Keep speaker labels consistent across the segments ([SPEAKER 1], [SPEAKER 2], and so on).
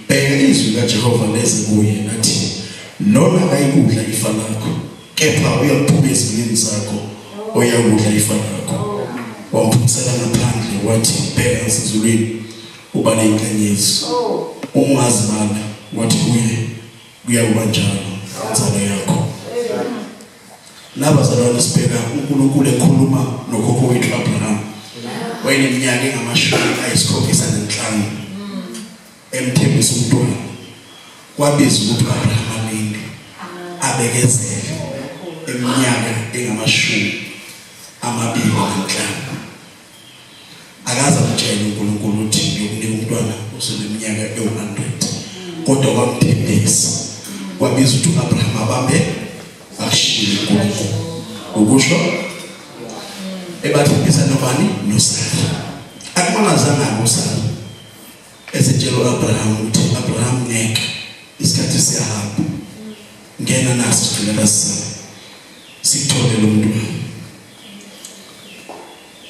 [SPEAKER 1] Bheka izwi kaJehova leze kuye nathi lona akayikudla ifa lakho kepha uyakuphuka ezimini zakho oyakudla ifa lakho wamphusela ngaphandle wathi bheka sizulwini uba neyingxenye yethu ungazibala wathi kuye kuyakuba njalo nzalo yakho Nabazalwane sibheka uNkulunkulu ekhuluma nokhokho wethu Abraham. Wayeneminyaka engamashumi ayisikhombisa nanhlanu. Emthembisa umntwana. Kwabiza ukuthi Abraham aminde. Abekezele eminyaka engamashumi amabili nanhlanu. akaze amtshele uNkulunkulu uthi ngiyomnika umntwana oseneminyaka ewu-100 kodwa wamthembisa wabiza ukuthi u-abraham abambe ashiyile unkulunkulu ukusho ebathembisa nobani nosara akumanazanga-ke usara esetshela u-abraham ukuthi abraham ngeke isikhathi siyahamba ngena naso sigcina basisana sithole lo mntwana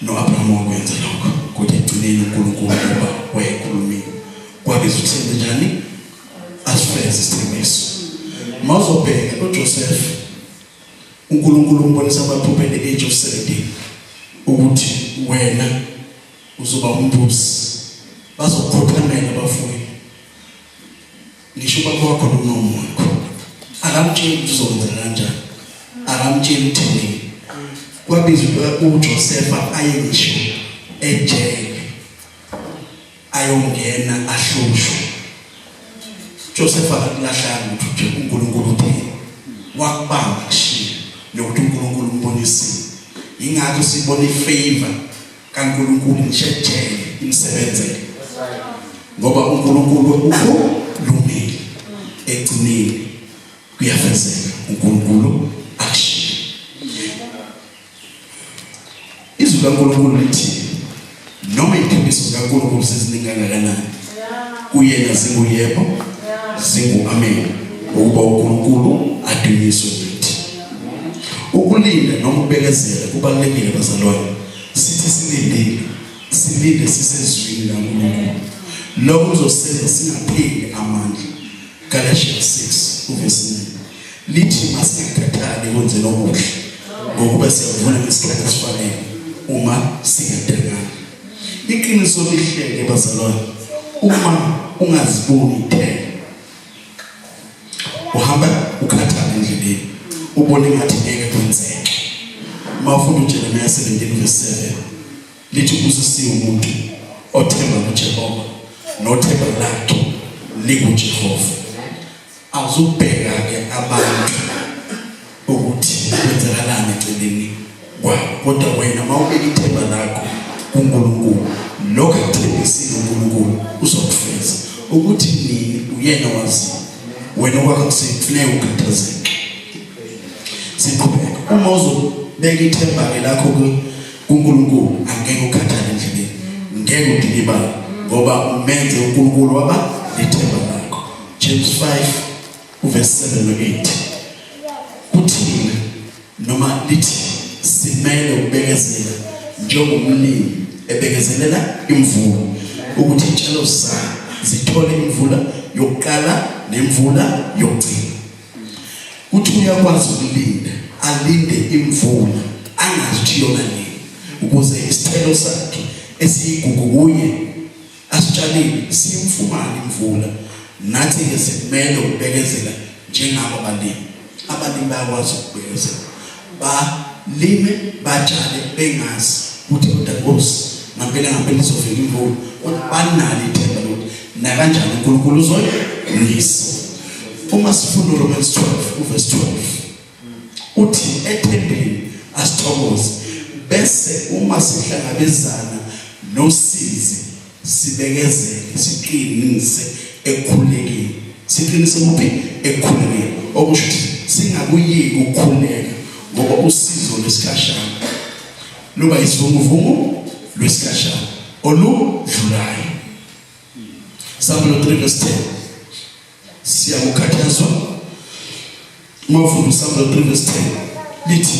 [SPEAKER 1] No-Abrahama wakwenza lokho, kodwa ekugcineni uNkulunkulu ngoba wayekhulumile. Kwabe sithembe njani? Asifeze isithembiso. Uma uzobheka uJoseph, uNkulunkulu umbonisa amaphupho at the age of 17 ukuthi wena uzoba umbusi. Bazokhothamela abafundi ngisho ubaba wakho nomama wakho akamtsheli ukuthi uzokwenzela kanjani akamtsheli ukuthi nini kwabizwa uJosefa aye ngisho ejele ayongena ahlushwe Josefa akulahlanga ukuthi uNkulunkulu uthini wakubamba kushiya nokuthi uNkulunkulu umbonise ingakho sibona ifavor kaNkulunkulu ngishethele imsebenzele ngoba uNkulunkulu ukulungile egcinile kuyafezeka uNkulunkulu akushiye izwi kaNkulunkulu lithi noma iphimiso kaNkulunkulu seziningi kangakanani kuyena zinguyebo zingu-amen ukuba unkulunkulu adunyiswe kithi ukulinda noma ukubekezela kubalulekile bazalwane sithi silindile silinde sisezwini lankulunkulu lokho kuzosenza singapheli amandla Galatians 6 uverse 9 lithi masikhathale kwenze lokuhle ngokuba siyavuna ngesikhathi esifanele uma singadengana iqiniso lihleke bazalwane uma ungaziboni ithele uhamba ukhathale endleleni ubone ngathi ngeke kwenzeke mawufunda uJeremiah 17 verse 7 lithi ubusisiwe umuntu othemba kuJehova nothemba lakhe likuJehova awuzubheka ke abantu ukuthi kwenzakalani eceleni kwabo kodwa wena mawubeka ithemba lakho kuNkulunkulu lokho akuthembisile uNkulunkulu uzokufeza ukuthi nini uyena wazi wena okwakho sekufuneka ukhathazeke siqhubeka uma uzobeka ithemba lakho kuNkulunkulu kuNkulunkulu angeke ukhathale endleleni ngeke udikibale ngoba umenze uNkulunkulu waba nethemba lakho James 5 uverse 7 no 8 kuthini noma lithi simele ukubekezela njengomlimi ebekezelela imvula ukuthi itshalo zakhe zithole imvula yokuqala nemvula yokugcina Kuthi uyakwazi ukulinda, alinde imvula, angazi ukuthi yona nini ukuze isithelo sakhe esiyigugu kuye asitshalile simfumane imvula. Nathi ke sikumele ukubekezela njengabo balimi. Abalimi bayakwazi ukubekezela. balime batshale bengazi ukuthi kodwa Nkosi ngampela ngampela izovela imvula kodwa banalo ithemba lokuthi nakanjani uNkulunkulu uzoyilisa uma sifunda uRomans 12 uverse 12 uthi ethembeni asithokoze bese uma sihlangabezana nosizi sibekezele siqinise ekukhulekeni siqinise kuphi ekukhulekeni okusho ukuthi singakuyeki ukukhuleka ngoba usizo lwesikhashana luba isivunguvungu lwesikhashana oludlulayo Samuel 3 verse 10 siyakukhathazwa mawufunda uSamuel 3 verse 10 lithi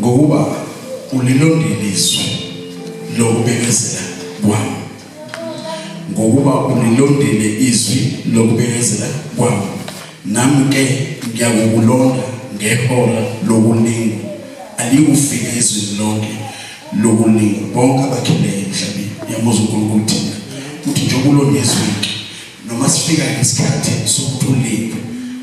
[SPEAKER 1] ngokuba ulilondile izwi lokubekezela kwami ngokuba ulilondile izwi lokubekezela kwami Nami ke ngiyakukulonda ngehora lokulingo aliyufika ezweni lonke lokulingo bonke abakhileyo emhlabeni uyamuza uNkulunkulu thina uthi njengoba ulonyezwiki noma sifika ngesikhathi sokuthi ulinge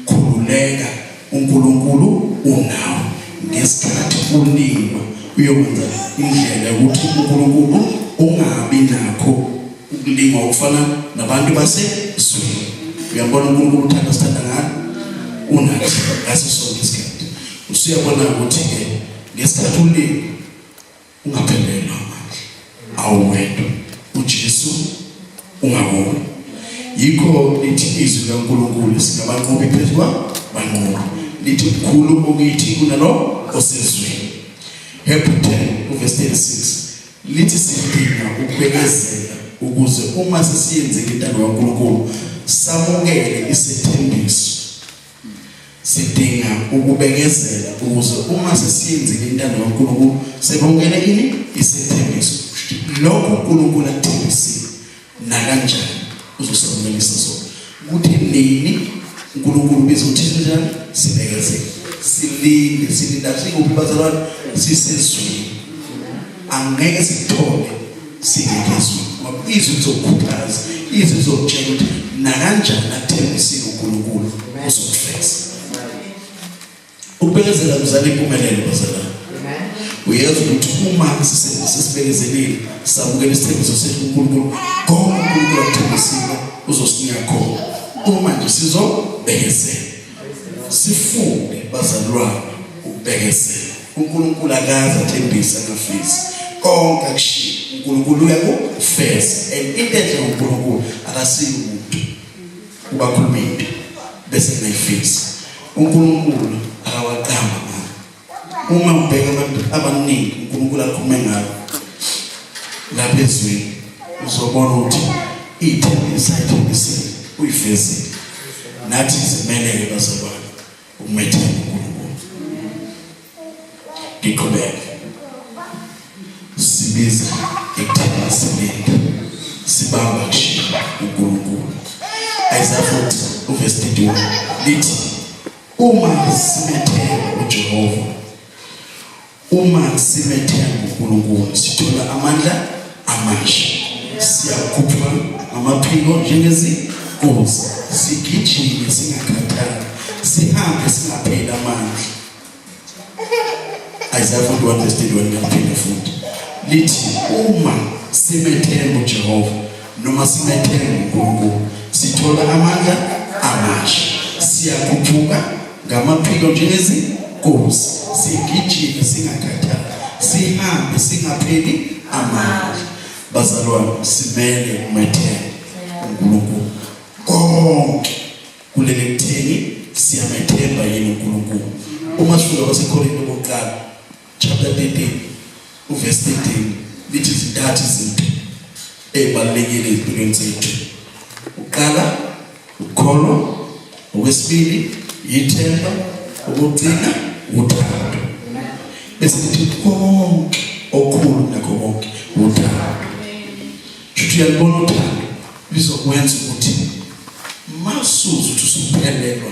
[SPEAKER 1] khululeka uNkulunkulu unawe ngesikhathi ulingwa uyokwenza indlela yokuthi uNkulunkulu ungabi nakho ukulingwa ukufana nabantu basezweni uyabona unkulunkulu uthanda sithanda ngani unathi ngaso sonke isikhathi usuyabona ukuthi-ke ngesikhathi ulinga ungaphelelwa manje awuwedwa ujesu ungawona yikho lithi izwi likankulunkulu singabanqobi phezu kwabanqobi lithi mkhulu okithi kunalo osezweni hebrew 10 uvesi 36 Lithi sidinga ukubekezela ukuze uma sesiyenzile intando kaNkulunkulu samukele isithembiso. Sidinga ukubekezela ukuze uma sesiyenzile intando kaNkulunkulu sebongele ini isithembiso. Lokho uNkulunkulu akuthembisile nakanjani uzosamumelisa sona kuthi nini uNkulunkulu biza uthini njani sibekezele silinde silinda sikuphi bazalwane sisezweni angeke sithole singekizwe izwi lizokhuthaza izwi lizokutshela ukuthi nakanjani athembisile uNkulunkulu uzokufeza Ukubekezela kuzala impumelelo bazalwane. Uyazi ukuthi uma sisibekezelile sabukela isithembiso sethu kuNkulunkulu, konke uNkulunkulu akuthembisile uzosinika khona. Uma nje sizobekezela. Sifunde bazalwane ukubekezela. uNkulunkulu akaze athembise ngafisi konke akushiya uNkulunkulu uyakufeza and into enhle ngoNkulunkulu akasiyi umuntu ubakhuluma into bese ngayifisa uNkulunkulu akawaqamba uma ubheka abantu abaningi uNkulunkulu akhume ngabo lapha ezweni uzobona ukuthi ithembisa ithembisile uyifezile nathi simeleke bazalwane Umethembe uNkulunkulu. Ngiqhubeke. Sibiza ithemba silinda. Sibamba kushiya uNkulunkulu. Isaiah 40 uverse 31 lithi uma simethemba uJehova Uma simethemba uNkulunkulu sithola amandla amasha. Siyakhupha amaphiko njengezinkosi, sigijime singakhathali, sihambe singapheli amandla. Isaiah 41 verse 21 ngiyaphinda futhi. Lithi uma simethemba uJehova noma simethemba uNkulunkulu sithola amandla amasha siyakhuphuka ngamaphiko njengezinkosi sigijime singakhathali sihambe singapheli amandla bazalwane simele umethemba uNkulunkulu konke kulele kutheni siyamethemba yini uNkulunkulu uma sifika kwaseKorinte kokuqala chapter 13 uverse 13 lithi zintathu izinto ezibalulekile ezimpilweni zethu uqala ukukholwa okwesibili yithemba ukugcina uthando bese kuthi konke okhulu nakho konke uthando futhi uyalibona uthando lizokwenza ukuthi masuzu ukuthi usuphelelwa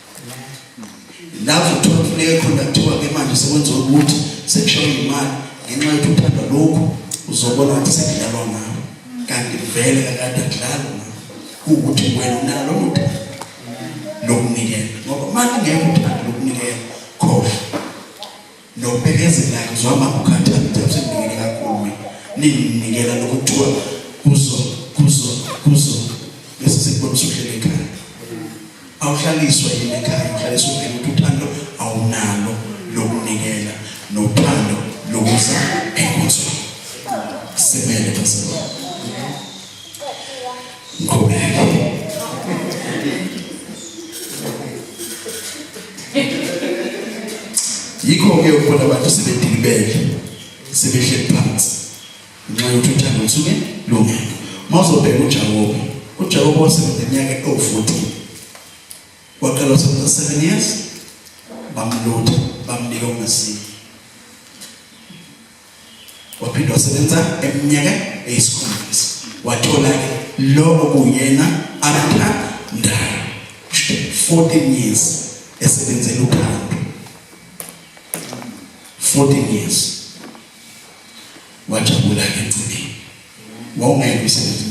[SPEAKER 1] lapho uthola kufuneka khona kuthiwa ke manje sekwenziwa ukuthi sekushawa imali ngenxa yokuthi uthanda lokhu uzobona ukuthi sekudlalwa ngawo kanti vele kakade kudlalwa ngawo kuwukuthi wena unalo uthando lokunikela ngoba mali ngeke uthande lokunikela khohlwa nokubekezelayo ngizwa mama ukhathala ukuthi akusendingeni kakhulu ninginikela lokuthiwa kuzo kuzo kuzo bese sekubonisa uhlele ekhaya awuhlaliswa yini ekhaya uhlaliswa uvela ukuthi uthando awunalo lokunikela nothando lokuza enkonzweni semele basekhona yikho-ke ubona abantu sebedilibele sebehleli phansi ngenxa yokuthi uthando lusuke lubi uma uzobheka ujakobe ujakobe wasebenza iminyaka ewu-fourteen waqala wasebenza seven years bamlutha bamnika ungasini waphinde wasebenza eminyaka eyisikhombisa wathola lo okuyena abathandayo 14 years esebenzela ukhanda 14 years wajabula ke mfundini wawungeke usebenze